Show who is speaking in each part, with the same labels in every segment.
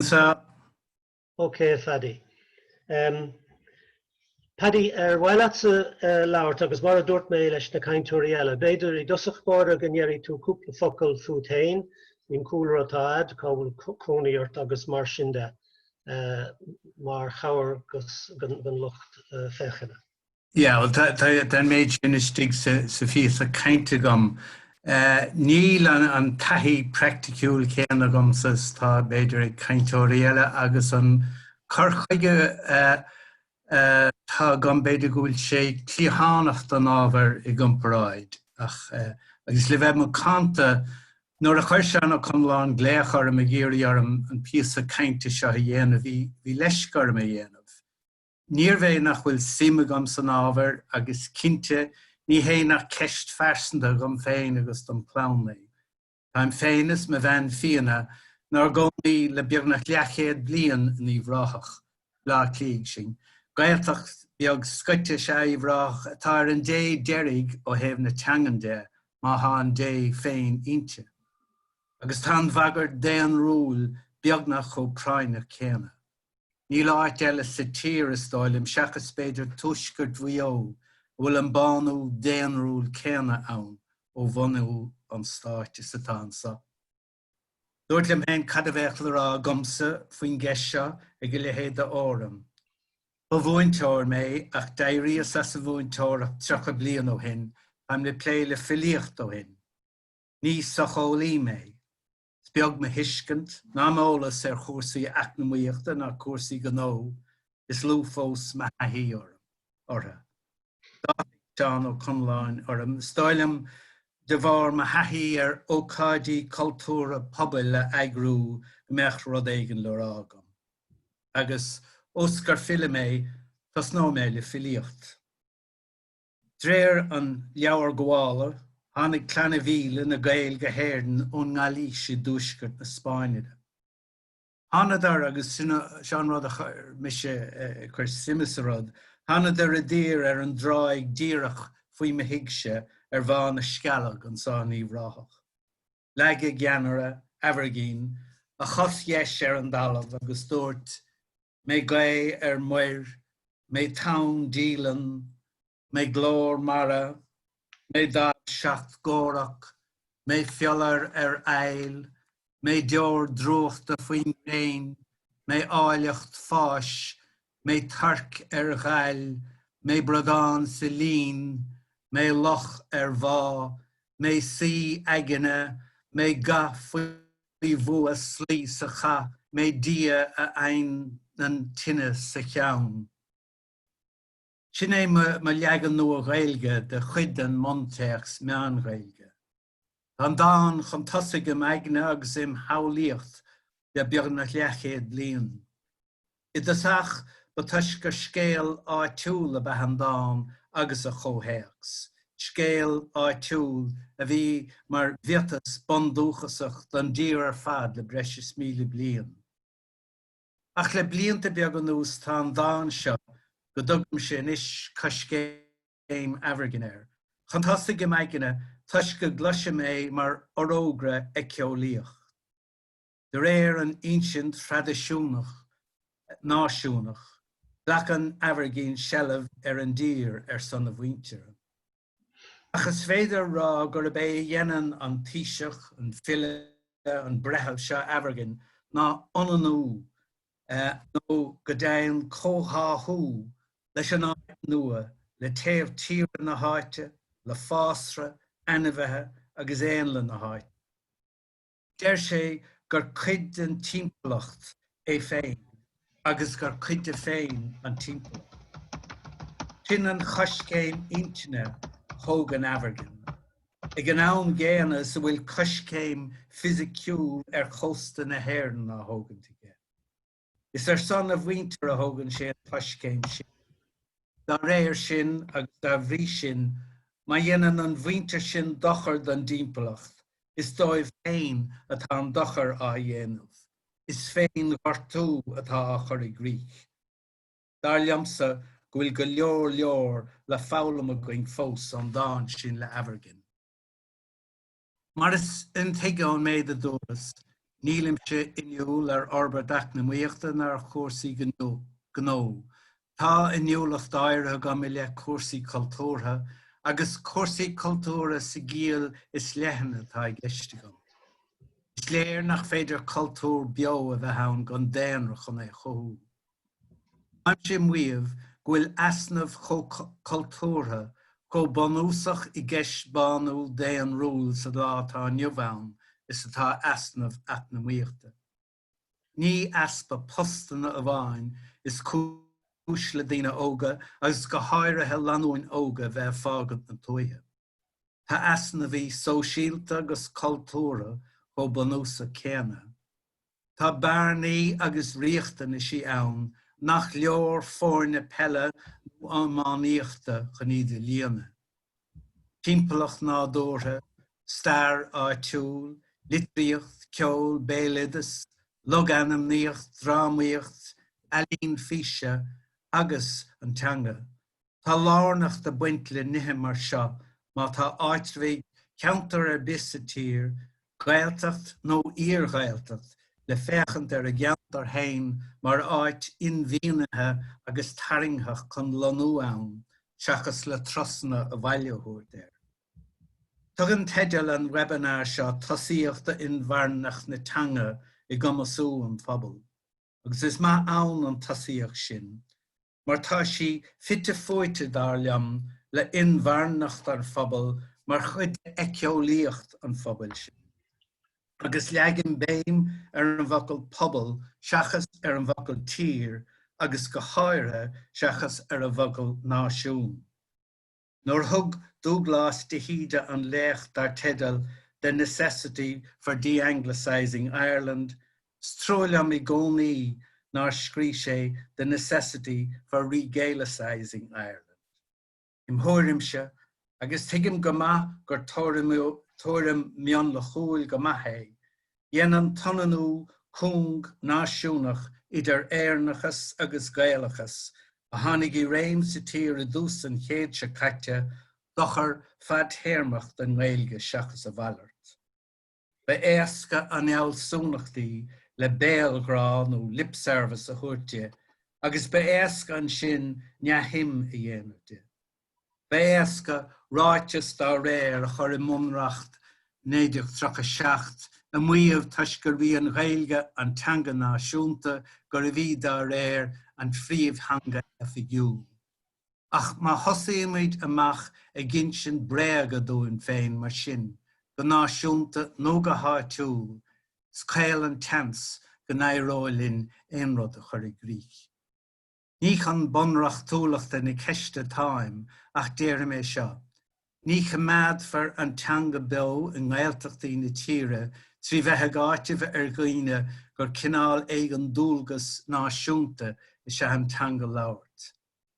Speaker 1: Sa. Ok Phaddy. Em Paddy, ar mhaith leatsa labhairt agus mar a dúirt mé leis na cainteoirí eile, b'fhéidir i dtosach báire go ndeiridh tú cúpla focal fút féin, cén cúlra atá a'd, cá bhfuil cónaí ort agus mar sin de, mar chabhair don lucht féachana. Yeah, well
Speaker 2: tá an méid sin istigh sa phíosa cainte agam. Níl an taithí praiticiúil céanna agamsa is atá b'fhéidir ag cainteoirí eile agus an cur chuige atá agam b'fhéidir go bhfuil sé cliathánach don ábhar i gcomparáid ach agus le bheith macánta nuair a chuir Seán Ó Conláin glaoch orm ag iarraidh orm an píosa cainte seo a dhéanamh bhí leisc orm é a dhéanamh. Níorbh é nach bhfuil suim agam san ábhar agus cinnte ní hé nach ceist phearsanta dhom féin agus dom chlann é. Táim féin is mo bhean Fíona 'nár gcónaí le beagnach leathchéad bliain in Uíbh Ráthach, Bleá Cliathaigh sinn. Gaeltacht bheag scoite is ea Uíbh Ráthach atá ar an dé deiridh ó thaobh na teangan de, má thá an dé féin inti. Agus tá an bhagairt daonrúil beagnach chomh práinneach céanna. Níl áit eile sa tír, is dóigh liom, seachas b'fhéidir tuaisceart Mhaigh Eo, a bhfuil an bánú daonrúil céanna ann ó bhunú an stáit is atá anseo. Dúrt liom féin cad a bheadh le rá agamsa faoin gceist seo ag a leithéid de fhóram. Ba mhúinteoir mé, ach d'éiríos as an mhúinteoireacht tríocha bliain ó shin, táim le plé le filíocht ó shin. Ní socheolaí mé. Is beag mo thuiscint ná m'eolas ar chúrsaí eacnamaíochta ná cúrsaí gnó, is lú fós mo thaithí orthu. D'áitigh Seán Ó Conláin orm, is dóigh liom, de bharr mo thaithí ar ócáidí cultúrtha pobail a eagrú go mbeadh rud éigin le rá agam. Agus ós gur file mé, tosnóidh mé le filíocht. D'réir an Leabhar Gabhála, tháinig Clanna Mhíle, na Gaeil, go hÉirinn ón nGailís i dtuaisceart na Spáinne. Thánadar, agus sin an rud a chuir mise ag cur suim sa rud, thánadar i dtír ar an dtráigh díreach faoi mo thigse ar Bhá na Scealg anso in Uíbh Ráthach. Leag a gceannaire, Aimhirgin, a chos dheis ar an dtalamh agus dúirt, mé gaoth ar muir, mé tonn díleann, mé glór mara, mé damh seacht gcomhrac, mé fiolar ar fhaill, mé deor drúchta faoin ngréin, mé áilleacht fáis, mé torc ar ghail, mé bradán sa linn, mé loch ar mhá, mé suí eagna, mé ga faoi. faoi bhua ag slaí sa chath mé Dia a adhnann tine sa cheann. Sin é mo leagan Nua-Ghaeilge de chuid den mbuntéacs Meán-Ghaeilge. Tá an dán chun tosaigh im aigne agus im shamhlaíocht le beagnach leathchéad bliain. I dtosach, ba toisc gur scéal áitiúil ab ea an dán agus a chomhthéacs, scéal áitiúil a bhí mar mhiotas bundúchasach don dtír ar fad le breis is míle bliain. Ach le blianta beaga anuas tá an dán seo, go dtugaimse anois Coiscéim Aimhirgin air, chun tosaigh im aigne toisc go gcloisim é mar fhorógra éiceolaíoch. De réir an insint thraidisiúnach náisiúnach, glacann Aimhirgin seilbh ar an dtír ar son a mhuintire. Ach is féidir a rá gurb é a dhéanann an taoiseach, an file, an breitheamh seo Aimhirgin ná ionannú nó go deimhin comhtháthú leis an áit nua, le taobh tíre na háite, le fásra, ainmhithe agus éanlaith na háite. Deir sé gur cuid den timpeallacht é féin agus gur cuid de féin an timpeallacht. Sin an choiscéim intinne a thógann Aimhirgin, ag an am gcéanna is a bhfuil coiscéim fisiciúil ar chósta na hÉireann á thógaint aige. Is ar son a mhuintire a thógann sé an choiscéim sin. Dá réir sin, agus dá bhrí sin, má dhéanann an mhuintir sin dochar don dtimpeallacht, is dóibh féin atá an dochar á dhéanamh, is féin-ghortú atá á chur i gcrích. Dar liomsa go bhfuil go leor leor le foghlaim againn fós ón dán sin le Aimhirgin. Mar is intuigthe ón méid a dúras, nílimse inniúil ar fhorbairt eacnamaíochta ná ar chúrsaí gnó. Tá inniúlacht áirithe agam i leith cúrsaí cultúrtha, agus cúrsaí cultúrtha sa gciall is leithne atá i gceist agam. Is léir nach féidir cultúr beo a bheith ann gan daonra chun é a chothú. Táimse ag maíomh go bhfuil easnamh chomh cultúrtha, chomh bunúsach i gceist bánú daonrúil sa lá atá inniu ann is atá easnamh eacnamaíochta. Ní easpa postanna amháin is cúis le daoine óga agus go háirithe lánúin óga bheith ag fágaint na tuaithe. Tá easnamhaí sóisialta agus cultúra chomh bunúsach céanna. Tá bearnaí agus riachtanaisí ann nach leor foirne peile nó iománaíochta chun iad a líonadh. Timpeallacht nádúrtha, stair áitiúil, litríocht, ceol, béaloideas, logainmníocht, drámaíocht, ealaín físe agus an teanga, Tá lárnacht ag baint le nithe mar seo má tá áitreabhaigh cheantar ar bith sa tír, Gaeltacht nó iar-Ghaeltacht, le féachaint ar a gceantar féin mar áit inmhianaithe agus tarraingteach chun lonnú ann seachas le trasna an bhaile a thabhairt air. Tugann teideal an webinar seo tosaíocht d'inmharthanacht na teanga i gcumasú an phobail, agus is maith ann an tosaíocht sin. mar tá sí fite fuaite, dar liom, le inmharthanacht an phobail mar chuid d'eiceolaíocht an phobail sin. Agus leagaim béim ar an bhfocal pobal seachas ar an bhfocal tír agus go háirithe seachas ar an bhfocal náisiún. Nuair a thug Dubhghlas de hÍde an léacht dar teideal 'The Necessity for De-Anglicising Ireland', 's trua liom i gcónaí nár scrígh sé 'The Necessity for Re-Gaelicising Ireland'. Im thuairimse, agus tuigim go maith gur tuairim mionlachúil go maith é, Dhein an t-ionannú cúng náisiúnaíoch idir Éireannachas agus Gaelachas, a tháinig i réim sa tír i dtús an chéid seo caite, dochar fadtéarmach don Ghaeilge seachas a mhalairt. Ba éasca an fhealsúnacht í le béalghrá nó lip-service a thabhairt di agus ba éasca ansin neamhshuim a dhéanamh di. Ba éasca ráiteas dá réir a chur i mBunreacht 1937 ag maíomh toisc gurbh í an Ghaeilge an teanga náisiúnta, gurbh í, dá réir, an phríomhtheanga oifigiúil. Ach má thosaímid amach ag insint bréag dúinn féin mar sin, go náisiúnta nó go háitiúil, is caol an seans go n-éireoidh linn aon rud a chur i gcrích. Ní chun bunreachtúlachta na ceiste atáim ach deirim é seo, ní choimeádfar an teanga beo i nGaeltachtaí na tíre trí bheith ag áiteamh ar dhaoine gur cineál éigin dualgas náisiúnta is ea an teanga a labhairt.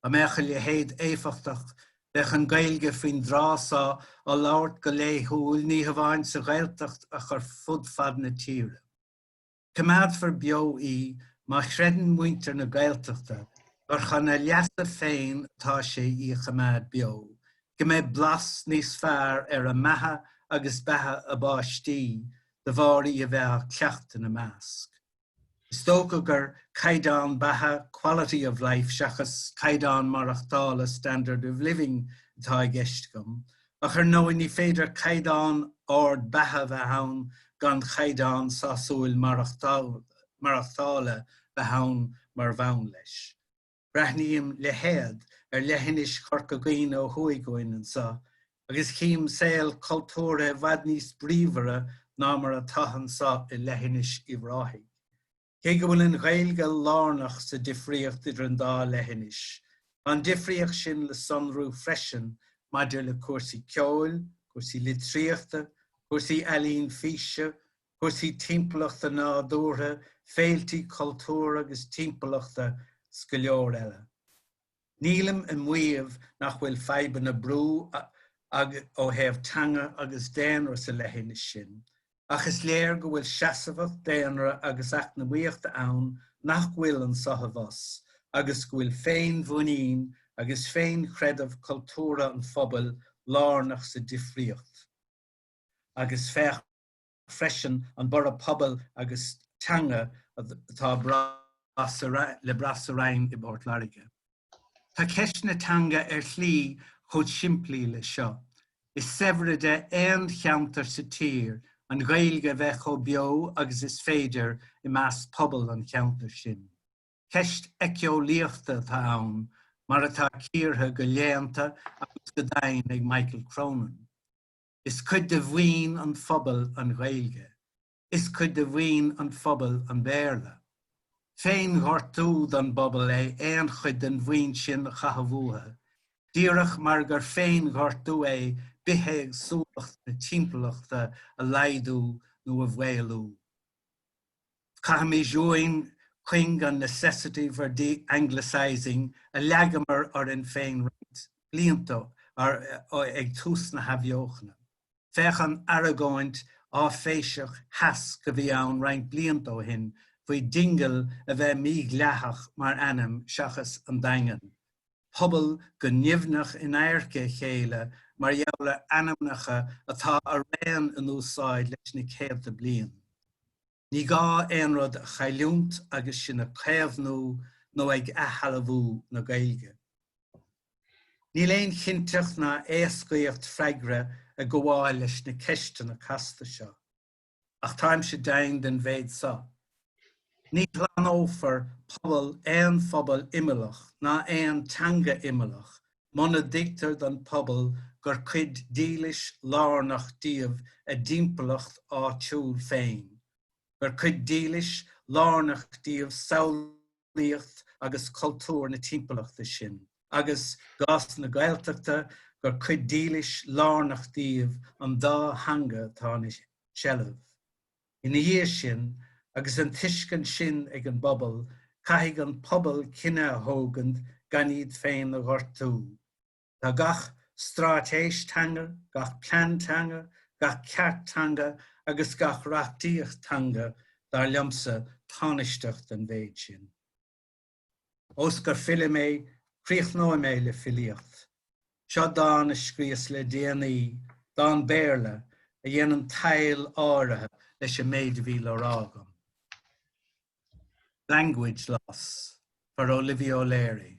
Speaker 2: Dá mbeadh a leithéid éifeachtach, bheadh an Ghaeilge faoin dtráth so á labhairt go laethúil ní hamháin sa Ghaeltacht ach ar fud fad na tíre. Coimeádfar beo í má chreideann muintir na Gaeltachta gur chun a leasa féin atá sé í a choimeád beo, go mbeidh blas níos fearr ar a mbeatha agus beatha a bpáistí de bharr í a bheith á cleachtadh ina measc. Is dócha gur caighdeán beatha, quality of life, seachas caighdeán maireachtála, standard of living, atá i gceist agam, Ach ar ndóigh, ní féidir caighdeán ard beatha a bheith ann gan chaighdeán sásúil maireachtála bheith ann mar bhonn leis. Breathnaím le héad ar leithinis Chorca Dhuibhne ó thuaidh uainn anseo, agus chím saol cultúrtha i bhfad níos bríomhaire ná mar atá anseo i leithinis Uíbh Ráthaigh. Cé go bhfuil an Ghaeilge lárnach sa difríocht idir an dá leithinis, tá an difríocht sin le sonrú freisin maidir le cúrsaí ceoil, cúrsaí litríochta, cúrsaí ealaín físe, cúrsaí timpeallachta nádúrtha, féiltí cultúir agus timpeallachta 's go leor eile. Nílim ag maíomh nach bhfuil fadhbanna brú ó thaobh teanga agus daonra sa leithinis sin, ach is léir go bhfuil seasamhacht daonra agus eacnamaíochta ann nach bhfuil anseo abhus agus go bhfuil féinmhuinín agus féinchreideamh cultúrtha an phobail lárnach sa difríocht. Agus féach. freisin an borradh pobail agus teanga atá le brath sa Rinn i bPort Láirge. Tá ceist na teanga ar shlí chomh simplí leis seo, is saibhre de aon cheantar sa tír an Ghaeilge a bheith chomh beo agus is féidir i measc phobal an cheantair sin. Ceist eiceolaíochta atá ann, mar atá cíortha go léannta agus go doimhin ag Michael Cronin. Is cuid de mhaoin an phobail an Ghaeilge. Is cuid de mhaoin an phobail an Béarla. Féinghortú don bpobal é aon chuid den mhaoin sin a chaitheamh uathu, díreach mar gur féinghortú é bithéagsúlacht na timpeallachta a laghdú nó a mhaolú. Caithfimís uainn cuing an necessity for de-anglicising a leagamar orainn féin roinnt blianta ó ag tús na hathbheochana. Féach an aragóint áiféiseach sheasc a bhí ann roinnt blianta ó shin faoi Dingle a bheith mídhleathach mar ainm seachas An Daingean. pobal go nimhneach in adharca a chéile mar gheall ar ainmneacha atá araon in úsáid leis na céadta bliain. Ní gá aon rud a chailliúint agus sinn ag caomhnú nó ag athshealbhú na Gaeilge. Níl aon chinnteacht ná éascaíocht freagra ag gabháil leis na ceisteanna casta seo. ach táimse deimhin den mhéid so, ní shlánófar pobal aon phobal imeallach ná aon teanga imeallach muna dtuigtear don phobal gur cuid dílis lárnach díobh a dtimpeallacht áitiúil féin, gur cuid dílis lárnach díobh samh laíocht agus cultúr na timpeallachta sin, agus i gcás na Gaeltachta, gur cuid dílis lárnach díobh an dá theanga atá ina seilbh. Ina dhiaidh sin, agus an tuiscint sin ag an bpobal, caithfidh an pobal cinneadh a thógaint gan iad féin a ghortú. Tá gach straitéis teanga, gach plean teanga, gach ceart teanga agus gach reachtaíocht teanga dar liomsa tánaisteach don mhéid sin. Ós gur file mé, críochnóidh mé le filíocht. Seo dán a scríos le déanaí, dán Béarla, a dhéanann tadhall áirithe leis an méid a bhí le rá agam. Language Loss, for Olivia O'Leary.